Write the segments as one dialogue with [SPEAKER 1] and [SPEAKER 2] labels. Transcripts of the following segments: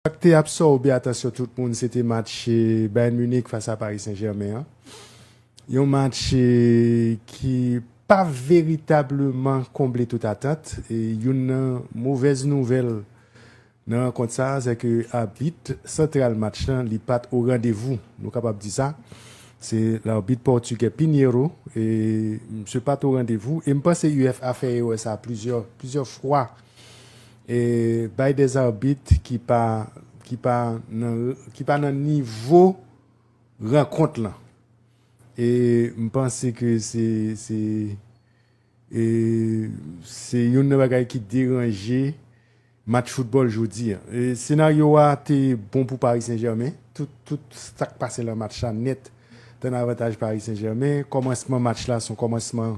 [SPEAKER 1] Sa k te absòbe atansyon tout moun se te match Bayern Munich fas a Paris Saint-Germain an. Yon match ki pa veritableman konble tout atant. Youn nan movèz nouvèl nan rankont sa a se ke abit santral match lan li pat o randevou, nou kapab di sa. Se larbit pòtigè Pinheiro, misye pat o randevou e m panse UEFA fè erè sa a plizyè fwa E bay de zarbit ki pa ki pa nan ki pa nan nivo rankont lan. E m panse ke se se e se youn nan bagay ki deranje match foutbòl jodi a. E senaryo a te bon pou Paris Saint Germain. Tout tout sa k pase lan match la nèt te nan avantaj Paris Saint Germain. Kòmansman match la se yon kòmansman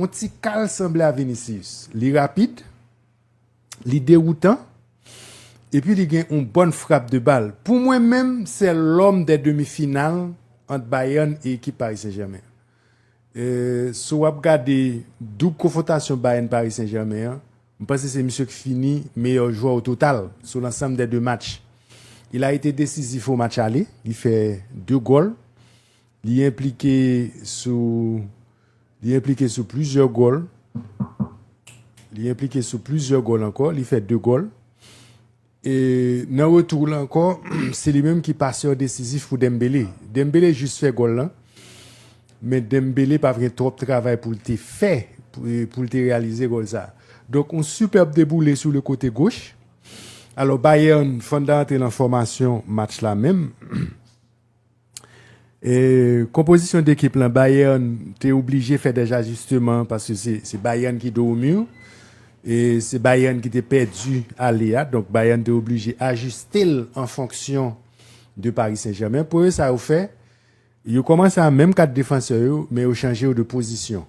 [SPEAKER 1] On ti kal sanble a Vinicius. Li rapid, li dewoutan, epi li gen on bòn frap de bal. Pou mwen menm, sè lòm dè demi final ant Bayern e ekip Paris Saint-Germain. So wap gade doub konfwontasyon Bayern Paris Saint-Germain an, m panse se misye k fini meyò jwè o total sou lansanm dè de match. Il a ete desizif o match ale, li fè de gòl. Li enplike sou li enplike sou plizyè gòl li enplike sou plizyè gòl ankò li fè 2 gòl e nan retou la ankò se li menm ki pasè desizif pou Dembele Dembele jis fè gòl lan men Dembele pa gen twòp travay pou l te fè pou l te reyalize gòl sa donk yon sipèb deboule sou le kote goch alò Bayern fanda antre nan fòmasyon match la menm. Konpozisyon de ekip lan, Bayern te oblije fè dèj ajisteman paske se Bayern ki do o mur e se Bayern ki te pèdi ale a, donk Bayern te oblije ajiste l an fonksyon de Paris Saint-Germain. Premye sa yo fè, yo kòmanse a menm 4 defansè yo men yo chanje yo de pozisyon.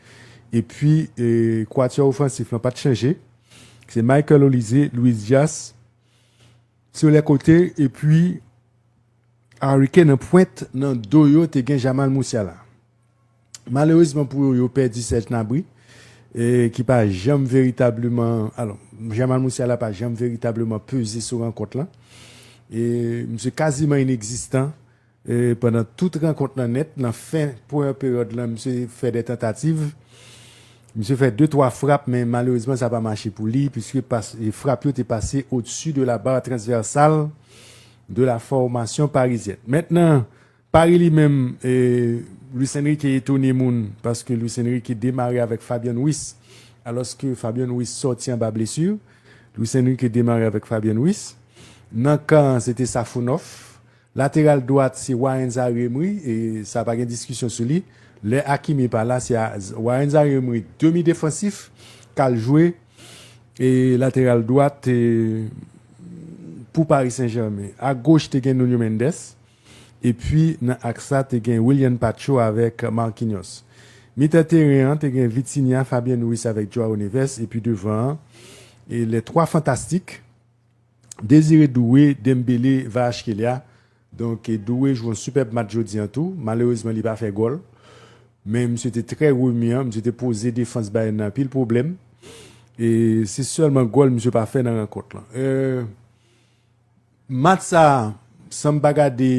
[SPEAKER 1] Epi kwatiyò ofansif lan pa t chanje. Se Michael Olise, Luis Diaz sou lè kote epi Harry Kane an pwent. Nan do yo te gen Jamal Musiala. Malerezman pou yo, yo pèdi Serge Gnabry ki pa janm veritableman, alò Jamal Musiala pa janm veritableman peze sou rankont lan. Misye kaziman inekzistan. Pandan tout rankont lan nèt nan fen pwen peryòd lan misye fè de tantativ, misye fè de twa frap men malerezman sa pa mache pou li puiske frap yo te pase au dessus de la barre transversale de la formation parisienne. Mèt nan Paris li menm Luis Enrique etone moun paske Luis Enrique demare avèk Fabian Ruiz alòske Fabian Ruiz sòti anba blesu. Luis Enrique demare avèk Fabian Ruiz. Nan kan an se te Safounov. Lateral dwat se Warren Zaïre-Emery e sa pa gen diskisyon sou li. Lè Hakimi pa la se Warren Zaïre-Emery demi defansif k al jwe lateral dwat pou Paris Saint-Germain. A goch te gen Nuno Mendes epi nan aks la te gen Willian Pacho avèk Marquinhos. Mitan teren an te gen Vitinha, Fabian Ruiz avèk Joao Neves epi devan an les trois fantastiques. Désiré Doué Dembélé Kvaratskhelia Donk Doué jwe yon sipèb match jodi an tou, malerezman li pa fè gòl men misye te trè remiyan, misye te poze defans Bayern nan anpil pwoblèm e se sèlman gòl misye pa fè nan rankont lan. Match sa san m pa gade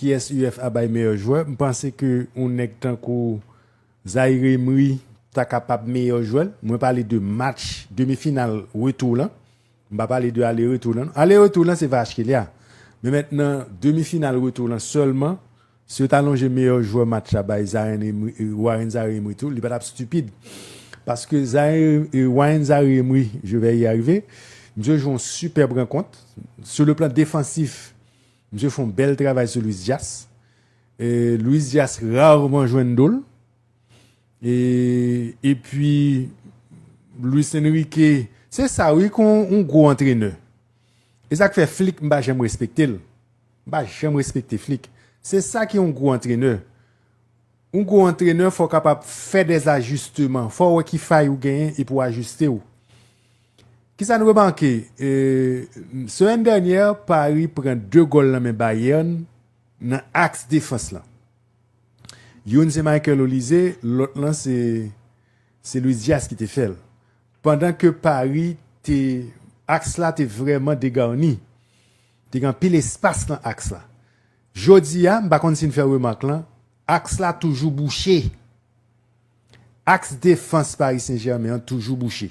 [SPEAKER 1] kiyès UEFA bay meyè jwè, m panse ke yon nèg tankou Zaïre Emery ta kapab meyè jwè l, mwen pale de match demi final retou lan, m pa pale de ale retou lan non, ale retou lan se Kvaratskhelia, men mèt nan demi final retou lan sèlman, si yo ta lonje meyè jwè match la bay Zaïre Emery, Warren Zaïre Emery tou, li pa tap stupide, paske Zaïre, Warren Zaïre Emery, je vais y arriver, misye jwe yon superb rankont, sou le plan defansif misye fon bèl travay sou Luis Diaz. Luis Diaz rarement jwenn do l. E pi Luis Enrique se sa wi kon yon gwo antrenè. E sa k fè Flick m pa janm respekte l. M pa janm respekte Flick. Se sa ki yon gwo antrenè. Yon gwo antrenè fò w kapab fè dè ajisteman. Fò w wè ki fay ou genyen epi w ajiste w. Ki sa n remake? Semèn dènyè Paris pran 2 gòl nan men Bayern Nan aks defans lan. Youn se Michael Olise, lòt lan se se Luis Diaz ki te fè l. Pandan ke Paris te aks la te vrèman degarni. Te gen anpil espas nan aks la. Jodi a, m pa konn si n fè remak lan, aks la toujou bouche. Aks defans Paris Saint Germain an toujou bouche.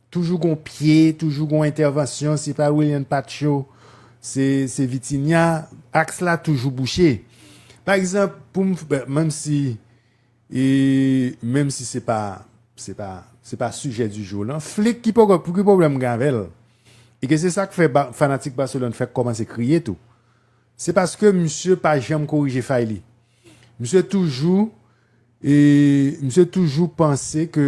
[SPEAKER 1] Toujou gon pye, toujou gon entèvansyon, se pa Willian Pacho, se Vitinha, aks la toujou bouche. Pa egzanp, pou m, menm si, menm si se pa, se pa, se pa sijè di jou lan, Flick ki poko, ki pwoblèm m gen avè l? E ke se sa k fè fanatik Barcelone fèk kòmanse kriye tou. Se paske misye pa janm korije fay li. Misye toujou, misye toujou panse ke.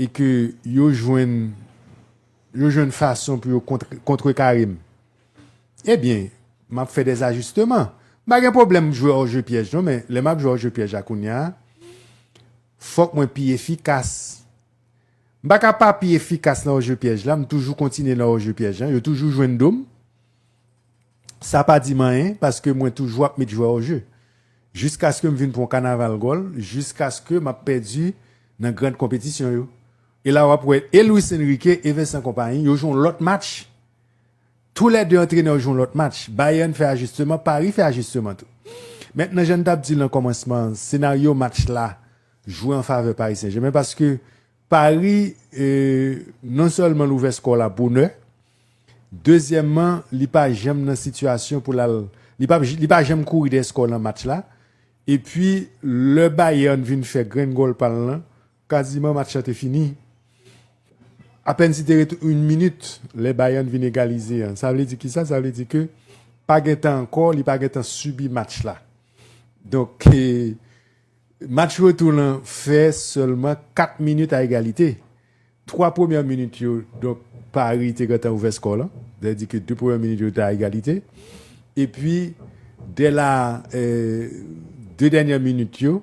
[SPEAKER 1] e ke yo jwenn yo jwenn fason pou yo kontrekare m, ebyen, m ap fè dè ajisteman. M pa gen pwoblèm jwe ò je pyèj non, men lè m ap jwe ò je pyèj la kounya, fòk mwen pi efikas. M pa ka pa pi efikas nan ò je pyèj la, m toujou kontinye nan ò je pyèj la, yo toujou jwenn do m. Sa pa di m anyen paske mwen toujou ap met jwè o je. Jiskaske m vin pran kanaval gòl, jiskaske m ap pèdi nan grand konpetisyon yo. E la w ap wè e Luis Enrique e Vincent Kompany yo jwe yon lòt match. Tou lè 2 antrenè yo jwe yon lòt match. Bayern fè ajisteman, Paris fè ajisteman tou. Mentnan jan n t ap di nan kòmansman an, senaryo match la jwe an favè Paris Saint Germain paske Pari non sèlman l ouvè skò la bonè, dezyèmman li pa janm nan sitiyasyon pou l al, li pa janm kouri dèyè skò nan match la, epi lè Bayern vin fè grenn gòl pa l lan, kaziman match la te fini, apèn si te rete yn minit lè Bayern vin egalize an, sa vle di kisa, sa vle di ke pa gen tan ankò, li pa gen tan sibi match la, donk. Match retou lan fè sèlman 4 minit a egalite. 3 premyè minit yo, donk Pari te gentan ouvè skò lan. Sa vle di ke 2 premyè minit yo te a egalite. Epi, dè la, 2 dènyè minit yo,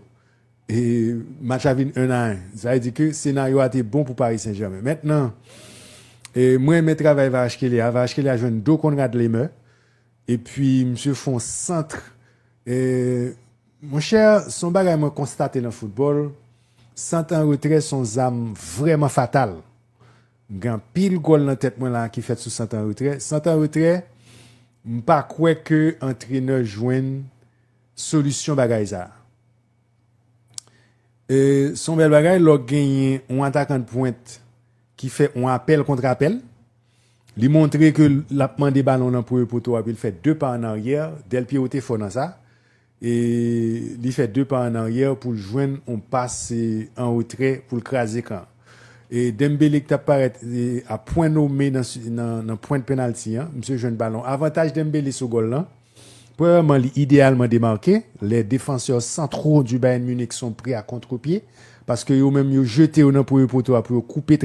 [SPEAKER 1] match la vin 1 a 1. Sa vle di ke senaryo a te bon pou Pari Sen Jèmen. Mentnan, mwen renmen travay Varachkelia a. Varachkelia jwenn do Konrad Lemè. Epi, misye fon santr. Mon chè, s on bagay mwen konstate nan foutbòl, sant an retrè s on zam vrèman fatal. M gen anpil gòl nan tèt mwen la ki fèt sou sant an retrè. Sant an retrè, m pa kwè ke antrenè jwenn solisyon bagay sa a. E s on bèl bagay lè w genyen on atakan dpwent. ki fè yon apèl kontre apèl, li montre ke l ap mande balon nan premye poto a epi l fè 2 pa an aryè, Del Piero te fò nan sa, e li fè 2 pa an aryè pou l jwenn yon pas an retrè pou l kraze kan an. E Dembele ki t ap parèt a pwen nome nan pwent penalti an, misye jwenn balon. Avantaj Dembele sou gòl lan, premyèman li ideyalman demake, lè defansè santro di Bayern Munich son pre a kontrepye, paske yo menm yo jete yo nan premye poto a pou yo koupe.